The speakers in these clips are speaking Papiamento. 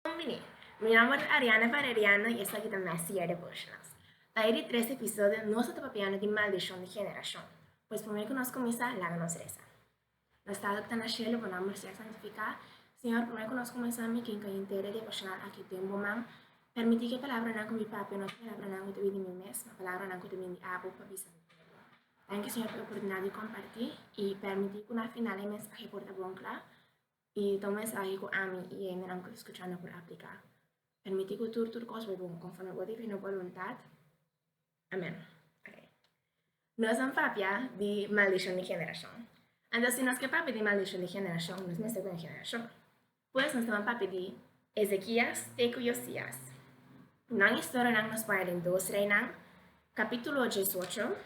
Bon bini! Mi nomber ta Ariana Valeriano y esaki ta Messy Year Devotionals. Pa e di tres episodio nos a ta papiando di maldicion di generacion. Pues p'amor cu nos cuminsa, laga nos reza. Nos Tata cu ta na cielo, bo nomber sea santifica. Señor, p'amor cu nos cuminsa mi ginga y entera e devocional aki den bo man. Permiti cu e palabranan cu mi papia no ta palabranan cu ta bin di mi mes, ma palabranan cu ta bin di abo pa bisa mi pueblo. Danki Señor p'e oportunidad di comparti y permiti cu na final e mensahe por ta bon cla. I ta un mensahe ku ami i hendenan ku ta skuchando por apliká. Permití ku tur tur kos bai bon, konforme bo divino boluntat. Amén. Oké. Nos nan papia di maldishon di generashon. Anto si nos ke papia di maldishon di generashon, nos mester kuni generashon. Pues nos taban papia di Ezekias te ku Yosias. Nan historianan nos poña den Dos Reinan, kapítulo diesocho,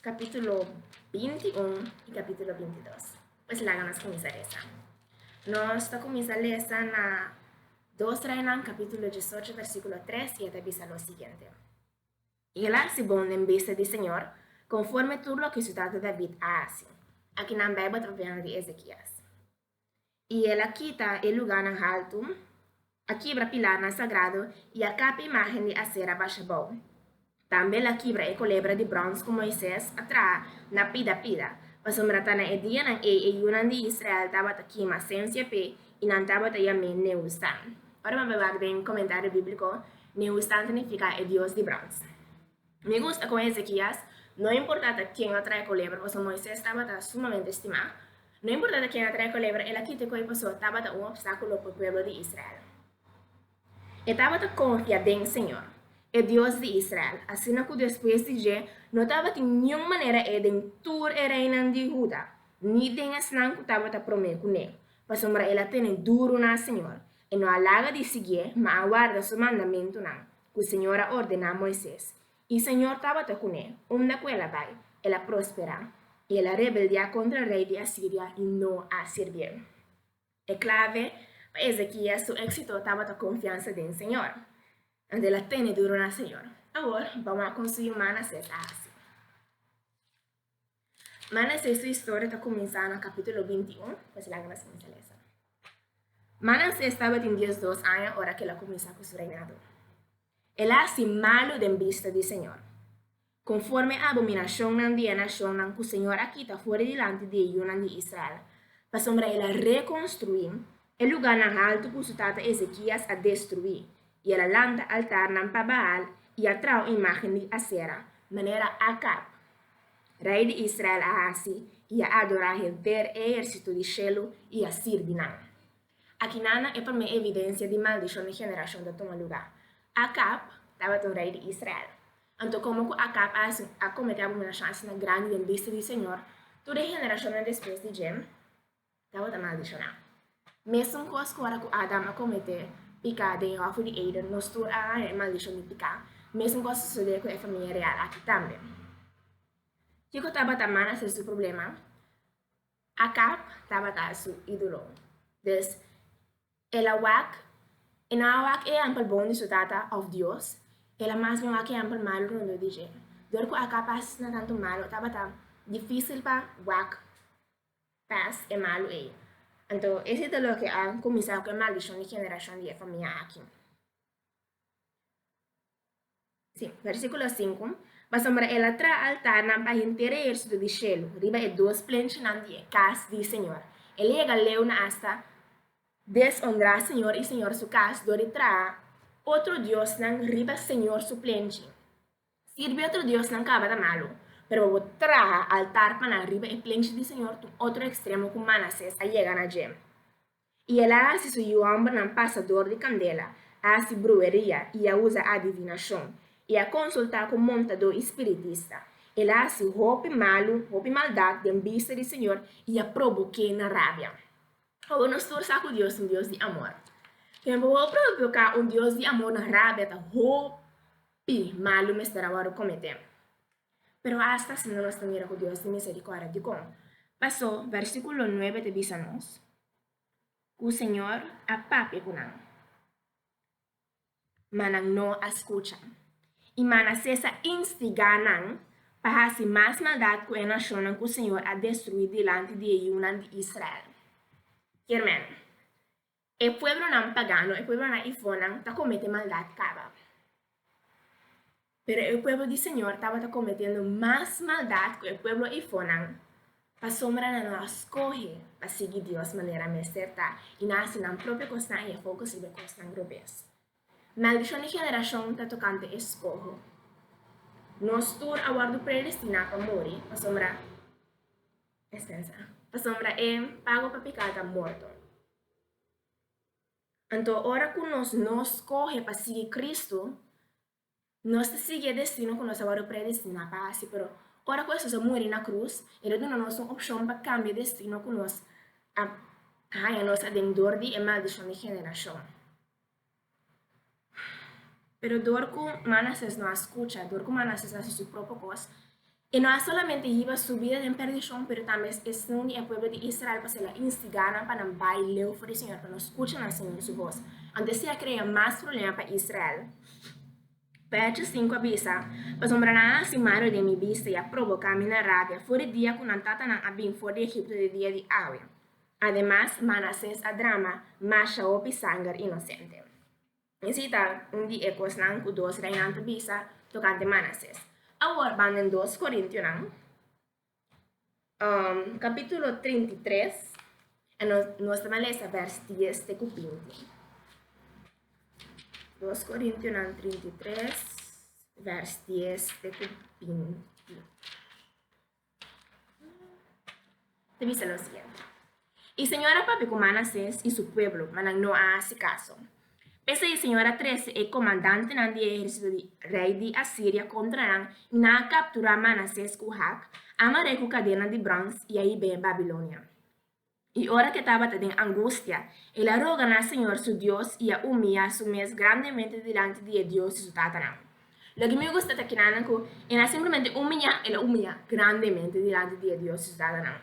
capítulo 21 y capítulo 22. Pues laga nos comienza lesa. Nos ta comienza lesa na 2 Reinan capítulo 18 versículo 3 y ta bisa lo siguiente. Y el hace bon den bista di Señor conforme tur lo que su tata David a haci. Aquí nan Bijbel ta papia di Ezequias. I el a kita e lugánan haltu, a kibra pilarnan sagrado i a kapa imágen di Asera basha bou. Tambe el a kibra e kolebra di bròns ku Moises a traha na pida pida, pasobra ta na e dianan ei e yunan di Israel tabata kima sensia p'e i nan tabata yam'é Nehustán. Ora bo a bai wak den komentario bíbliko, Nehustán ta nifiká e dios di bròns. Mi gusta con Ezekias, no importa ta ken a trae coleber, paso Moises tabata sumamente stima. No importa ta ken a trae coleber, el a kita cu e paso tabata un obstaculo pa pueblo di Israel. E tabata confia den Señor, e Dios di Israel, asina cu despues di dje no tabatin niun manera e den tur e reinan di Huda, ni den esnan cu tabata prome cu ne, pasobra el a tene duru na Señor, e no a laga di sigié, ma a warda su mandamentunan. ku Señor a ordená Moises, i Señor tabata kuné, unda ku el a bai, el a prosperá, i el a rebeldiá kontra rei di Asiria i no a sirbiel. E klave pa Ezekias su éksito tabata konfiansa den Señor. Anto el a tene duru na Señor. Awor, bou a kon su yuman a hasi. Manasé su historia ta kuminsá na kapítulo binti un. Pues laga nos kuminsá lesa. Manasé tabatin dies dos aña ora ke el a kuminsá ku su reinado. El a hasi malu den bista di señor. Konforme abominashonnan di e nashonnan ku señor a kita for dilanti di e yunan di Israel, pasobra el a rekonstruí E lugánan haltu ku su tata Ezekias a destruí, i el a lanta altarnan pa Baal i a traha imágen di Asera, manera Akab, rei di Israel, a hasi, i a adorá henter e ehérsito di shelu i a sirbi nan. Akinan na e promé evidensia di maldishon di generashon ta tuma lugá. Akab tabata un rei di Israel. Anto, komo ku Akab a hasi, a kometé abominashon asina grandi den bista di Señor, tur e generashonnan despues di dje? Tabata maldishoná. Mésun kos ku ora ku Adam a kometé piká den e hòfi di Eden, nos tur a haña e maldishon di piká. Mésun kos a sosodé ku e famia real aki tambe. Kiko tabata mana ser su problema? Akab tabata su ídolo. Dus, el a wak, e no a wak e hèmpel bon di su tata òf Dios, el a mas bien wak e hèmpel malu rondó di dje. Dor ku Akab a hasi asina tantu malu, tabata difísil pa wak pas e malu ei. Anto, ese ta loke a kuminsá ku e maldishon di generashon di e famia aki. Sí, versíkulo sinku, Pasobra el a traha altarnan pa henter e ehersitu di shelu riba e dos plenchinan di e kas di señor. El a yega leu na asta deshonrá señor i señor su kas dor di traha otro diosnan riba señor su plenchi. Sirbi otro diosnan kaba ta malu, pero bo bo traha altar pa nan riba e plenchi di señor tur otro ekstremo ku Manasés a yega na dje. I el a hasi su yuambernan pasador di kandela, a hasi bruheria i a usa adivinashon, i a konsultá ku montadó i spiritista. El a hasi hopi malu, hopi maldat den bista di señor i a proboké nan rabia. Ora nos tur sa ku Dios ta un Dios di amor, pero pa bo bo provoká un Dios di amor nan rabia ta hopi. i malu mester a wòrdu kometé. Pero asta asina nos ta mira ku Dios tin miserikòrdia. Dikon? Pasó, vèrsikulo nuebe ta bisa nos ku Señor a papia ku nan, ma nan no a skucha. I Manasés a instigá nan pa hasi mas maldat ku e nashonnan ku Señor a destruí dilanti di e yunan di Israel. Kier men, E pueblonan pagano, e pueblonan ifónan, ta komete maldat kaba. Pero e pueblo di Señor tabata kometendo mas maldat ku e pueblo ifónan, pasobra nan no a skohe pa sigui Dios manera mester ta i nan a hasi nan propio kosnan i Yehova ku sirbi kosnan robes. Maldishon di generashon ta tokante e skoho. Nos tur a wòrdu predestiná pa muri, pasobra, Esensa. Pasobra e pago pa picá ta morto. Anto ora cu nos no scoge pa sigui Cristo, nos ta sigui e destino cu nos a worde predestiná pa haci. Pero ora cu Jesús a muri na cruz, el a duna nos un opcion pa cambia e destino cu nos a haña nos aden dor di e maldicion di generacion. Pero dor ku Manasés no a skucha, dor ku Manasés hasi su propio kos, e no a solamente hiba su bida den perdishon, pero tambe e sindi e pueblo di Israel pa sela instigá nan pa nan bai leu for di señor, pa no skucha nan señor su bos. Anto esei a krea mas problema pa Israel. Vèrsio sinku a bisa, Pasobra nan a hasi malu den mi bista i a proboká mi na rabia for di dia ku nan tatanan a bin for di Egipto den dia di awe. Ademas, Manasés a drama masha hopi sanger inosente. I si ta un di e kosnan ku dos reinan ta bisa tokante Manasés. Awor ban den Dos Korintionan, kapítulo trinta i tres, en nos nos ta na lesa bèrs dies te ku binti. Dos Korintionan trinta i tres, bèrs dies te ku binti. te bisa lo siguiente. I señora papia ku Manasés i su pueblo, ma nan no a hasi kaso. P'esei señor a trese e komandantenan di e ehérsito di rei di Asiria kontra nan i nan a kapturá Manasés ku hak, amar'é ku kadena di bròns i a hib'é Babilonia. I ora ke tabata den angustia, el a roga na Señor su Dios i a umia su mes grandemente dilanti di e dios di su tatanan. Loke mi gusta ta kinanan ku e na simplemente umia, el a umia grandemente dilanti di e dios di su tatanan.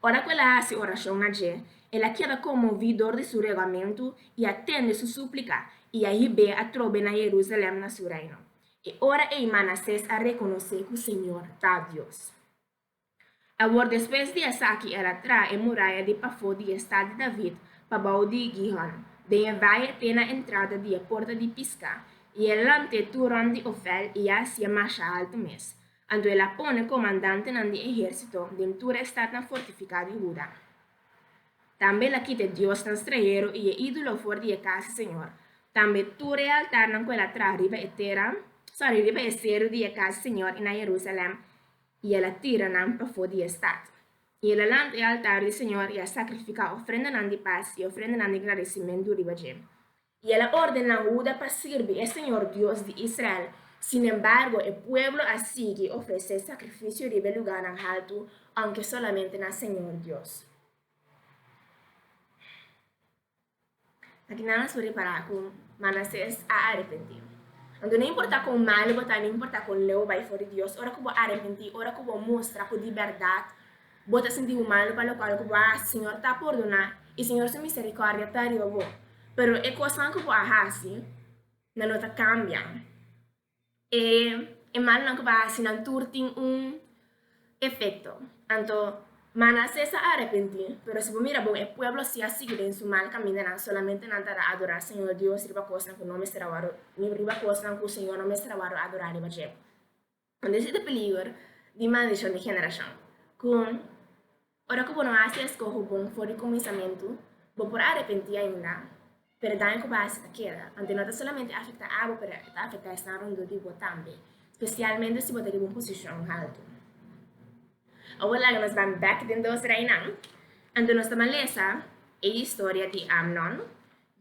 Ora ku el a hasi orashon na dje, el a keda konmoví dor di su regamentu i a tende su súplika i a hib'é atrobe na Yerusalèm, na su reino. E ora ei Manasés a rekonosé ku Señor ta Dios. Awor despues di esaki el a traha e muraya di pafó di e Stad di David pa bou di Gihon, den e vaye te na entrada di e Porta di Piská, i e lant'é turon di Ofel i a hasié masha altu mes. Anto el a pone komandantenan di ehérsito den tur e stadnan fortifiká di Huda. Tambe el a kita e diosnan stranhero i e ídolo for di e kas di señor, tambe tur e altarnan ku el a traha riba e tera, sòri, riba e seru di e kas di señor i na Jerusalèm, I el a tira nan pafó di e stat, i el a lanta e altar di señor, i a sakrifiká ofrendanan di pas i ofrendanan di gradisimentu riba dje. I el a ordená Huda pa sirbi e señor Dios di Israel, sinembargo e pueblo a sigui ofresé sakrifisio riba e lugánan haltu, aunke solamente na señor Dios. Ta ki nan nos por repará ku Manasés a arepentí? Anto no importá kon malu bo ta, no importá kon leu bo bai for di Dios, ora ku bo arepentí, ora ku bo mustra ku di bèrdat bo ta sinti bo malu pa lokual ku bo a hasi, Señor ta pordoná i Señor su miserikòrdia ta riba bo. Pero e kosnan ku bo a hasi nan lo ta kambia. E e mannan ku bai hasi nan tur tin un efekto. Anto, Manasés a arepentí, pero si bo mira bon e pueblo si a sigui den su mal kamindanan, solamente nan ta ta adorá Señor Dios riba kosnan ku no mester a wòrdu, riba kosnan ku Señor no mester a wòrdu adorá riba dje. Unda esei ta peliger di maldishon di generashon ku Ora ku bo no hasi eskoho bon for di kuminsamentu, bo por arepentí ainda, pero daño ku bo hasi ta keda. Anto no ta solamente afektá abo, pero ta afektá esnan rondó di bo tambe, spesialmente si bo ta riba un posishon haltu. Awor laga nos ban bèk den dos reinan. Anto nos ta malesa e historia di Amnon,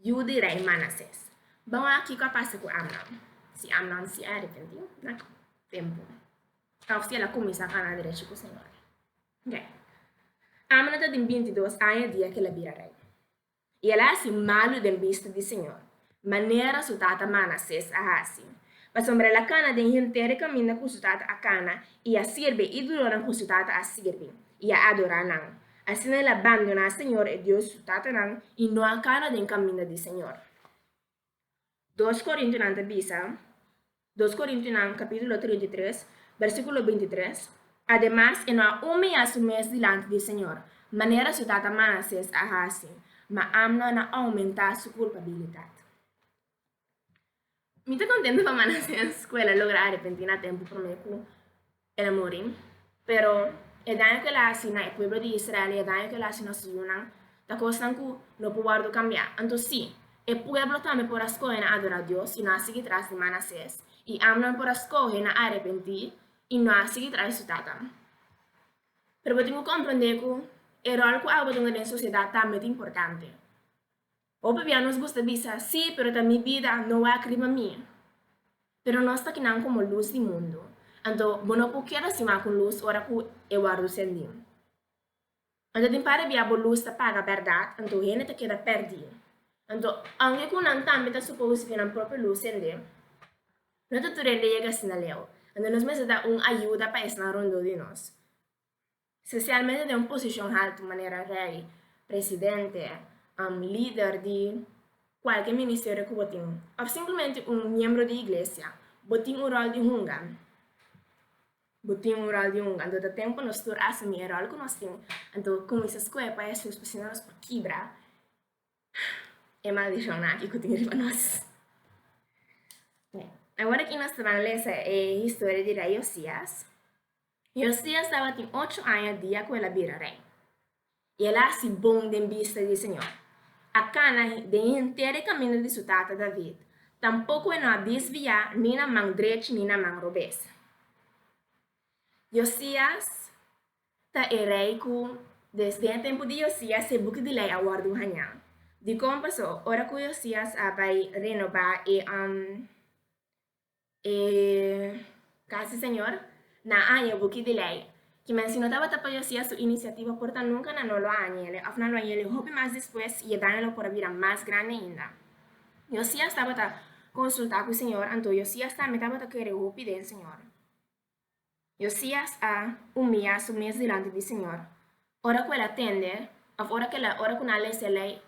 yu di rei Manasés. Ban wak kiko a pasa ku Amnon, si Amnon sí a arepentí na tempu ta òf si el a kuminsá kanda derechi ku Señor. Rei. Amo no ta tin binti dos aña dia cu el a bira rei, y el a haci malu den bista di señor, manera su tata Manasés a haci, pasobra el a cana den henter e caminda cu su tata a cana, y a sirbi e idolonan cu su tata a sirbi, y a adora nan. Asina el a bandona señor e Dios di su tatanan, y no a cana den caminda di señor. Dos Korintiunan ta bisa, Dos Korintiunan kapítulo trinta i tres, bèrsikulo binti tres, Ademas, e no a umia su mes dilanti di Señor, manera su tata Manasés a hasi, ma Ámnon a oumentá su kulpabilidat. Mi ta kontentu pa Manasés ku el a logra arepentí na tempu promé ku El a muri. Pero e daño ku el a hasi na e pueblo di Israel i e daño ku el a hasi nos yunan ta kosnan ku no por wòrdu kambiá. Anto sí, e pueblo tambe por a skohe na adorá Dios i no a sigui tras di Manasés, i Amnón por a skohe na arepentí i no a sigui tras di su tata. Pero bo tin ku komprondé ku e ròl ku abo bo ta unda den sosiedat tambe ta importante. Hopi bia nos gusta bisa, Sí, pero ta mi bida, no wak riba mi. Pero nos ta kinan komo lus di mundu. Anto, bo no por keda sima ku un lus ora ku e wòrdu sendí. Anto tin par di bia bo lus ta paga bèrdat, anto hende ta keda pèrdí. Anto, aunke ku nan tambe ta supouse ku nan propio lus sendé, no ta tur hende yega asina leu. Anto nos mester da un ayuda pa esnan rondó di nos. Spesialmente den un posishon haltu manera rei, presidente, lider di kualke ministerio ku bo tin, òf simplemente un miembro di iglesia, bo tin un ròl di hunga. Bo tin un ròl di hunga. Anto ta tempu nos tur asumí e ròl ku nos tin. Anto kuminsá skohe pa Hesus pasobra nos por kibra e maldishonnan aki ku tin riba nos. Awor aki nos ta ban lesa e historia di rei Yosias. Josias tabatin ocho aña dia ku el a bira rei, i el a hasi bon den bista di señor. A kana den henter e kaminda di su tata David, tampoko e no a disviá ni na man drechi ni na man robes. Josias ta e rei ku desde e tempu di Josias se buki di lei a wòrdu un hañá. Dikon pasó ora ku Josias a bai renobá e E Casi Señor, na aña buki di ley, ki men si no tabata pa Josias su iniciativa por ta nunca nan no lo a hañele, of nan lo hañele hopi mas despues, y e daño lo por a bira mas grandi ainda. Josias tabata consulta cu Señor, anto Josias tambe tabata kere hopi den Señor. Yosias a umiá su mes dilanti di Señor, ora ku el a tende, òf ora ku el a, ora ku nan a lese Lei,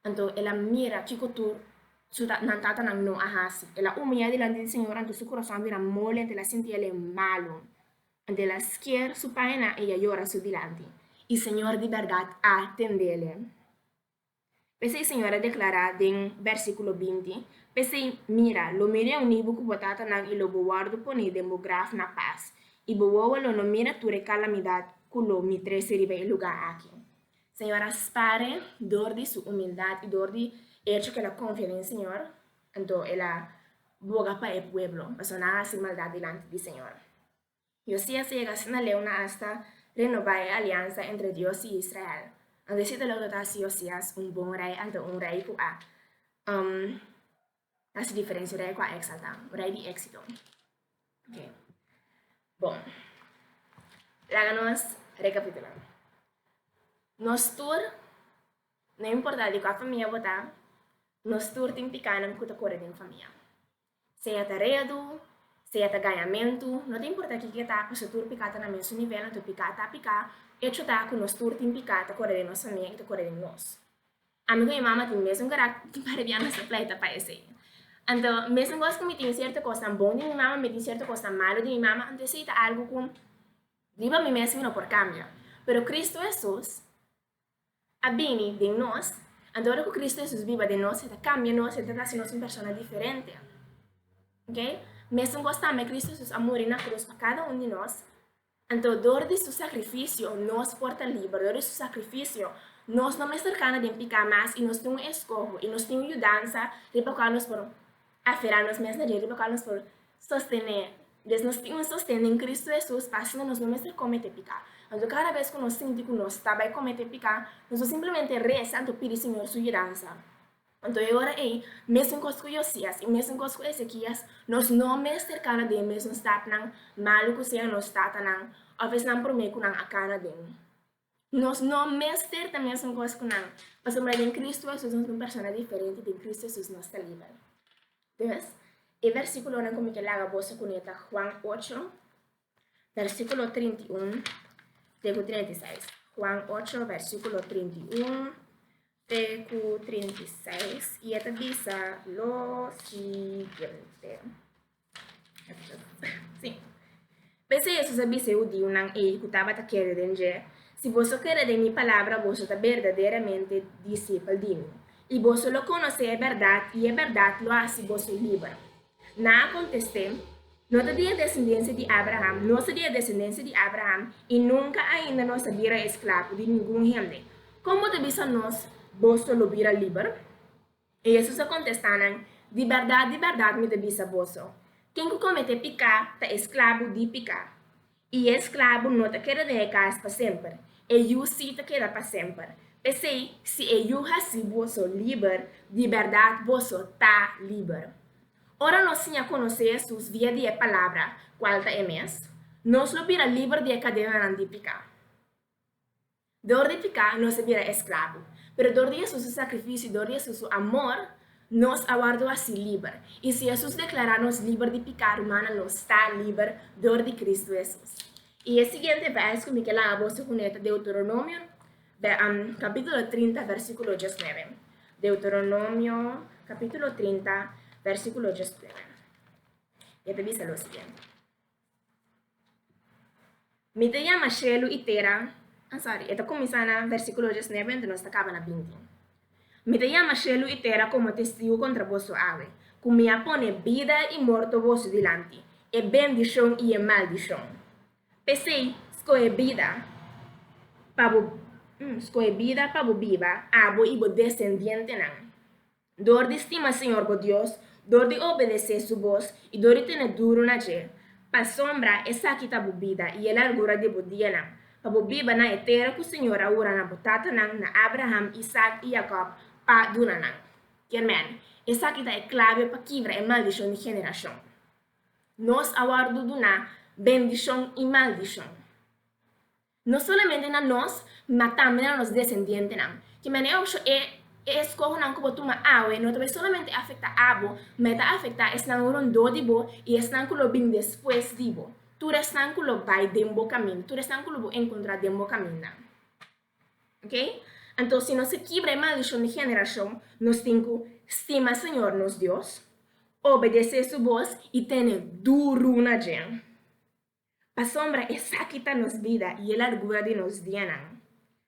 anto el a mira kiko tur su ta, nan tatanan no a hasi. El a umiá dilanti di Señor, anto su kurason a bira moli, anto el a sinti el e malu. Anto el a skier su paenan i a yora su dilanti. I Señor di bèrdat a tendele. P'esei e Siñor a deklará den bèrsikulo binti, P'esei, mira, lo mi reuní bo ku bo tatanan i lo bo wòrdu poné den bo graf na pas, i bo wowo lo no mira tur e kalamidat ku lo mi trese riba e lugá aki. Señor a spare dor di su umildat i dor di echo ku el a konfia den Señor, anto el a boga pa e pueblo, pasobra nan a hasi maldat dilanti di Señor. Josias yega asina leu na asta renobá e aliansa entre Dios i Israel. Anto e sita lo lo ta hasi Josias un bon rei, anto un rei ku a hasi diferensia, un rei ku a eksaltá, un rei di éksito. Oke, bon, laga nos rekapitulá. Nos tur, no importá di kua famia bo ta, nos tur tin pikánan ku ta kore den famia. Sea ta redu, sea ta gañamentu, no ta importá kiko e ta, pasobra tur piká ta na mesun nivel, anto piká ta piká, echo ta ku nos tur tin piká ta kore den nos famia i ta kore den nos. Ami ku mi mama tin mesun karakter, tin paribian nos ta pleita pa esei. Anto, mesun kos ku mi tin sierto kosnan bon di mi mama, mi tin sierto kosnan malu di mi mama, anto esei ta algu ku riba mi mes mi no por kambia. Pero Kristu Hesus. a bini den nos, anto ora ku Kristu Hesus biba den nos, e ta kambia nos, e ta hasi nos un persona diferente. Oke? Mesun kos tambe, Kristu Hesus a muri na krus pa kada un di nos, anto dor di su sakrifisio nos por ta liber, dor di su sakrifisio nos no mester kana den piká mas i nos tin un eskoho, i nos tin un yudansa riba kual nos por Aferá nos mes na diario local nos por sostené. Des nos tin un sosten den Kristu Hesus pa asina nos no mester kometé piká. Anto kada bes ku nos sinti ku nos ta bai kometé piká, nos por simplemente resa anto pidi Señor su yudansa. Anto e ora ei, mesun kos ku Yosias i mesun kos ku Esekias, nos no mester kana den mes nos tatnan malu ku sea nos tatanan òf esnan promé ku nan a kana den. Nos no mester ta mesengos ku nan, pasobra den Kristu Hesus nos ta un persona diferente i den Kristu Hesus nos ta liber. Dus, e bersíkulonan ku mi ke laga boso kuné ta Juan ocho, bersíkulo trinta i un te ku trinta i seis. Juan ocho, bersíkulo trinta i un te ku trinta i seis, i e ta bisa lo siguiente. P'esei Hesus a bisa e hudiunan ei ku tabata kere den dje, Si boso kere den mi palabra, boso ta berdaderamente disipel di mi, i boso lo konosé e bèrdat, i e bèrdat lo hasi boso liber. Nan a kontest'é, No ta di e desendensia di Abraham, nos ta di e desendensia di Abraham i nunka ainda nos a bira esklavo di ningun hende. Kon bo ta bisa nos, Boso lo bira liber? I Jesus a kontestá nan, Di bèrdat, di bèrdat mi ta bisa boso, Ken ku kometé piká ta e sklabu di piká. I e sklabu no ta keda den e kas pa semper, e yu sí ta keda pa semper. P'esei, si e yu hasi boso liber, di bèrdat boso ta liber. Ora nos siña konosé Jesus via di e palabra, kual ta e mes, nos lo bira liber di e kadenanan di piká. Dor di piká nos a bira esklabo, pero dor di Hesus su sakrifisio i dor di Hesus su amor, nos a wòrdu hasi liber. I si Hesus deklará nos liber di piká, rumannan, nos ta liber dor di Kristu Hesus. I e siguiente bèrs ku mi ke laga boso kuné ta Deuteronomio, kapítulo trinta, vèrsíkulo diesnuebe. Deuteronomio, kapítulo trinta, vèrsíkulo diesnuebe. E ta bisa lo siguiente. Mi ta yama shelu i tera, ah sorry, e ta kuminsá na versíkulo desnuebe anto nos ta kaba na binti. Mi ta yama shelu i tera komo testigu kontra boso awe, ku mi a pone bida i morto boso dilanti, e bendishon i e maldishon. P'esei, skohe bida, pa bo, skohe bida pa bo biba, abo i bo desendientenan. dor di stima Señor bo Dios, dor di obedecé su bos i dor di tene duru na dje. Pasobra esaki ta bo bida i e largura di bo dianan, pa bo biba na e tera ku Señor a hura na bo tatanan, na Abraham, Isaak i Jakòb, pa duna nan. Kermèn, esaki ta e klave pa kibra e maldishon di generashon. Nos a wòrdu duna bendishon i maldishon. No solamente na nos, ma tambe na nos desendientenan. Ki manera bo shò e eskohonan ku bo tuma awe no ta bai solamente afektá abo, ma e ta afektá esnan rondó di bo i esnan ku lo bin despues di bo, tur esnan ku lo bai den bo kaminda, tur esnan ku lo bo enkontrá den bo kaminda. Oke, anto si nos ke kibra e maldishon di generashon, nos tin ku stima Señor nos Dios, obedesé Su bos i tene duru na djen. Pasobra esaki ta nos bida i e largura di nos dianan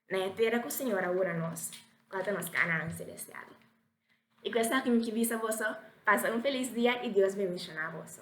na e tera ku Señor a wurda nos, kua ta nos Kanaan selestial. I ku esaki mi ki bisa boso, pasa un felis dia i Dios bendishoná boso.